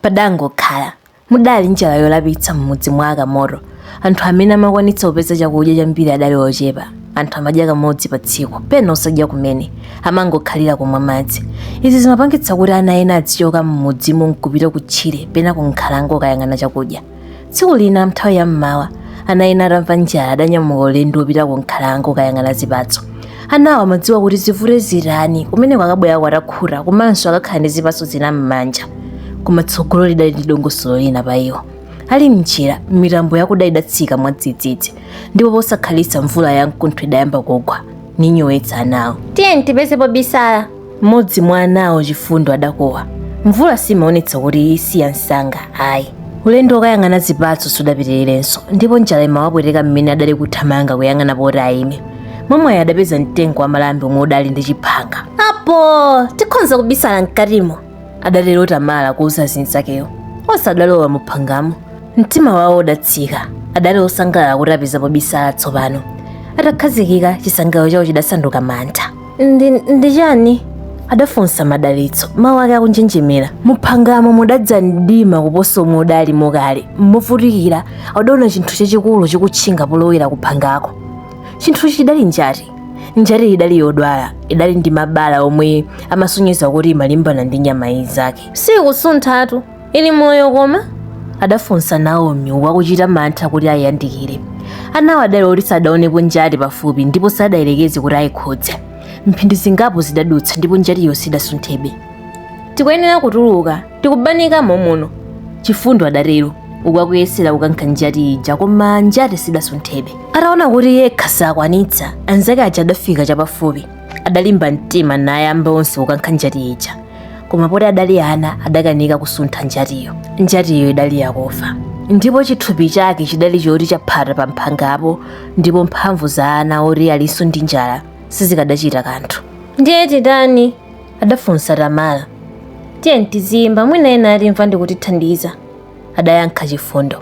Padangokhala, mudali njala yoopsa m'mudzi mwa a Kamoto. Anthu amene amakwanitsa kupeza chakudya chambiri adali ochepa. Anthu amadya kamodzi patsiku, pena osadya kumene. Amangokhalira kumwa madzi. Izi zimapangitsa kuti ana ena azichoka m'mudzimo n'kupita kutchire pena kunkhalango kukayang'ana chakudya. tsiku lina mnthawi ya mmawa ana ena atamva njala adanyamuka ulendo wopita ku nkhalango kukayang'ana zipatso anawo amadziwa kuti zivute zitani kumene ko akabwera atakhuta komanso akakhala ndi zipatso zina m'manja koma tsogolo lidali ndi dongosolo lina pa iwo ali mnjira mitambo yakuda idatsika mwadzidzidzi ndipo posakhalitsa mvula ya mkuntho idayamba kugwa n'kunyowetsa anawo tiyeni tipeze pobisala Mmodzi mwa anawo Chifundo adakuwa. Mvula simaonetsa kuti isiya msanga, ayi. Ulendo wokayang'ana zipatso sudapitirirenso, ndipo njala imawapweteka mmene adali kuthamanga kuyang'ana poti aime. Mwamwayi adapeza mtengo wa malambe omwe udali ndi chiphanga. Apo! Tikhonza kubisala mkatimo! adatero Tamala kuuza anzakewo. Onse adalowa mu phangamo. Mtima wawo udatsika. Adali osangalala kuti apeza pobisala tsopano. Atakhazikika, chisangalalo chawo chidasanduka mantha. ndi chani adafunsa madalitso mawu ake akunjenjemera muphangamo mudadza mdima kuposa omwe udali mo kale movutikira adaona chinthu chachikulu chikutchinga polowera kuphangako chinthuchi chidali njati njati idali yodwala idali ndi mabala omwe amasonyeza kuti imalimbana ndi nyama inzake sikusunthatu ili moyo koma adafunsa naomi uku akuchita mantha kuti ayiyandikire anawo adali oti sadaonepo njati pafupi ndipo sadayerekeze kuti ayikhudze mphindi zingapo zidadutsa ndipo njatiyo sidasunthebe tikuyenera kutuluka tikubanikamo muno chifundo adatero uku akuyesera kukankha njati ija koma njati sidasunthebe ataona kuti yekha sakwanitsa anzake aja adafika chapafupi adalimba mtima nayamba onse kukankha njati ija koma poti adali ana adakanika kusuntha njatiyo njatiyo idali yakufa ndipo chithupi chake chidali choti chaphata pa mphangapo ndipo mphamvu za ana oti alinso ndi njala sizikadachita kanthu ndiye titani adafunsa tamala tiyeni tiziimba mwina ena atimva ndikutithandiza adayankha chifundo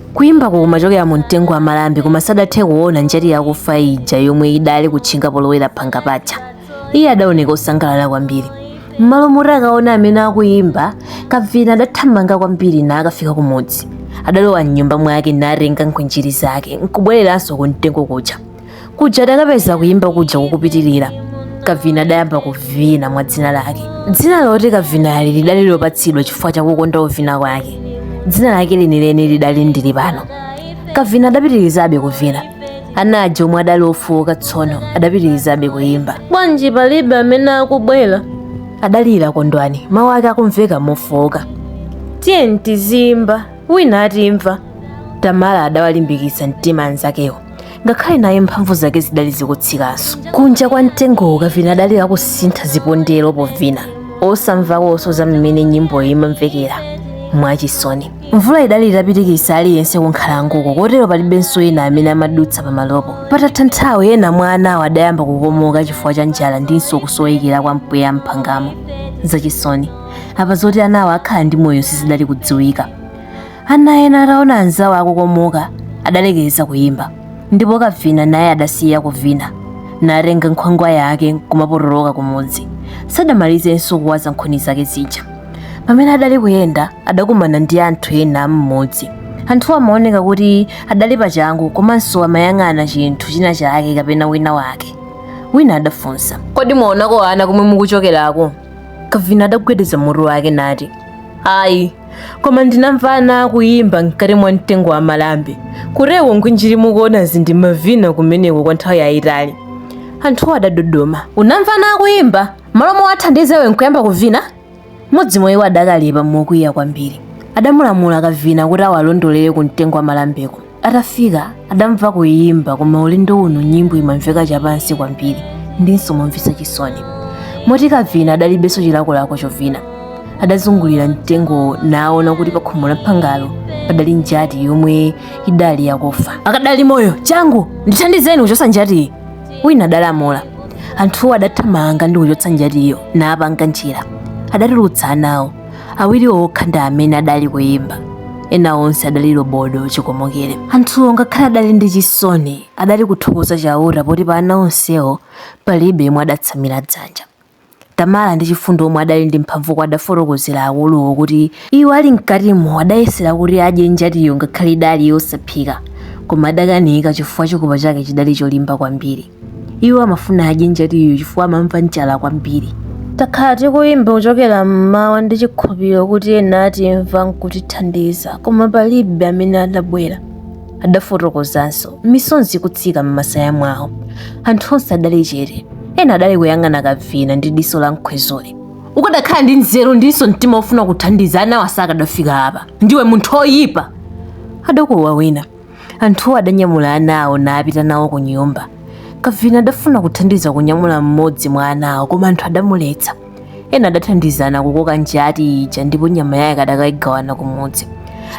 Kuyimbako kumachokera mu mtengo wa malambe koma sadathe kuona njati yakufa ija yomwe idali kutchinga polowera phanga paja. Iye adaoneka osangalala kwambiri. M'malo moti akaona amene akuyimba, kavina adathamanga kwambiri nakafika kumudzi. Adalowa m'nyumba mwake natenga nkhwinjiri zake nkubwereranso ku mtengo kuja. kuja adakapeza kuyimba kuja kukupitirira kavina adayamba kuvina mwa dzina lake dzina loti kavinali lidali lopatsidwa chifukwa chakukonda uvina kwake dzina lake lenileni lidali ndili pano kavina adapitirizabe kuvina ana aja omwe adali ofowoka tsono adapitirizabe kuyimba bwanji palibe amene akubwera adalira kondwani mawu ake akumveka mofowoka tiyeni tiziyimba wina atimva tamala adawalimbikitsa mtima anzakewo ngakhale naye mphamvu zake zidali zikutsikanso kunja kwa mtengowo kavina adali akusintha zipondero povina osamvakonso za mmene nyimboyo imamvekera mwachisoni mvula idali itapitikitsa aliyense kunkhalangoko kotero palibenso ena amene amadutsa pamalopo patatha nthawi ena mwa anawo adayamba kukomoka chifukwa cha njala ndinso kusowekera kwa mpweya m'phangamo zachisoni apa zoti anawo akhala ndi moyo sizidali kudziwika ana ena ataona anzawo akukomoka adalekeza kuyimba ndipo kavina naye adasiya kuvina natenga nkhwangwa yake kumapotoloka kumudzi sadamalizenso kuwaza nkhuni zake zija pamene adali kuyenda adakumana ndi anthu ena am'mudzi anthuwa amaoneka kuti adali pachangu komanso amayang'ana chinthu china chake kapena wina wake wina adafunsa kodi mwaonako ana komwe mukuchokerako kavina adagwedeza mutu wake nati ayi koma ndinamva ana akuyimba mkati mwa mtengo wa malambe kuteroko ngwinjiri mukuonazi ndimavina kumeneko kwa nthawi yayitali anthuwo adadodoma unamva ana akuyimba mmalo mowathandiza iwe nkuyamba kuvina mmodzi mwa iwo adakalipa mokwiya kwambiri adamulamula kavina kuti awalondolere ku mtengo wa malambeko atafika adamva kuyimba koma ulendo uno nyimbo imamveka chapansi kwambiri ndinso momvetsa chisoni moti kavina adalibenso chilakolako chovina adazungulira mtengowo naona kuti pakhomo la phangalo padali njati yomwe idali yakufa akadali moyo changu ndithandizeni kuchotsa njatiyi wina adalamula anthuwo adathamanga ndi kuchotsa njatiyo naapanga njira adatulutsa anawo awiriwo okha ndi amene adali kuyimba ena onse adali lobodo chikomokere anthuwo ngakhale adali ndi chisoni adali kuthokoza chauta poti pa ana onsewo palibe yemwe adatsamira dzanja tamala ndi chifundo omwe adali ndi mphamvuko adafotokozera akuluwo kuti iwo ali mkatimo adayesera kuti adye njatiyo ngakhale idali yosaphika koma adakanika chifukwa chikopa chake chidali cholimba kwambiri iwo amafuna adye njatiyo chifukwa amamva njala kwambiri takhala tikuyimba kuchokera mmawa ndi chikhulupiriro kuti ena atimva nkutithandiza koma palibe amene adabwera adafotokozanso misozi ikutsika m'masaya mwawo anthu onse adali chete ena adali kuyang'ana kavina ndi diso la mkhwezole ukadakhala ndi nzeru ndinso mtima wofuna kuthandiza anawa sakadafika apa ndiwe munthu oyipa adakuwa wina anthuwo adanyamula ana awo napita nawo ku nyumba kavina adafuna kuthandiza kunyamula mmodzi mwa ana awo koma anthu adamuletsa ena adathandizana kukoka njati ija ndipo nyama yake adakayigawana kumudzi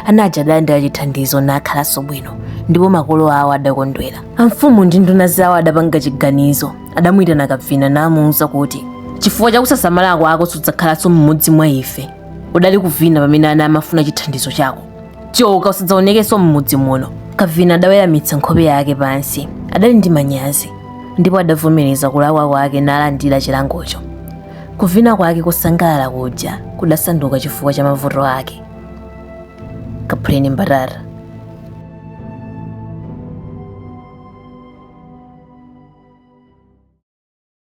ana aja adalandira chithandizo nakhalanso bwino ndipo makolo awo adakondwera amfumu ndi nduna zawo adapanga chiganizo adamuyitana kavina namuwuza kuti chifukwa chakusasamala kwako sudzakhalanso mmodzi mwa ife udali kuvina pamene ana amafuna chithandizo chako choka usadzaonekenso m'mudzi muno kavina adaweramitsa nkhope yake pansi adali ndi manyazi ndipo adavomereza kulakwa kwake nalandira chilangocho kuvina kwake kosangalala kuja kudasanduka chifukwa cha mavuto ake kaphuleni mbatata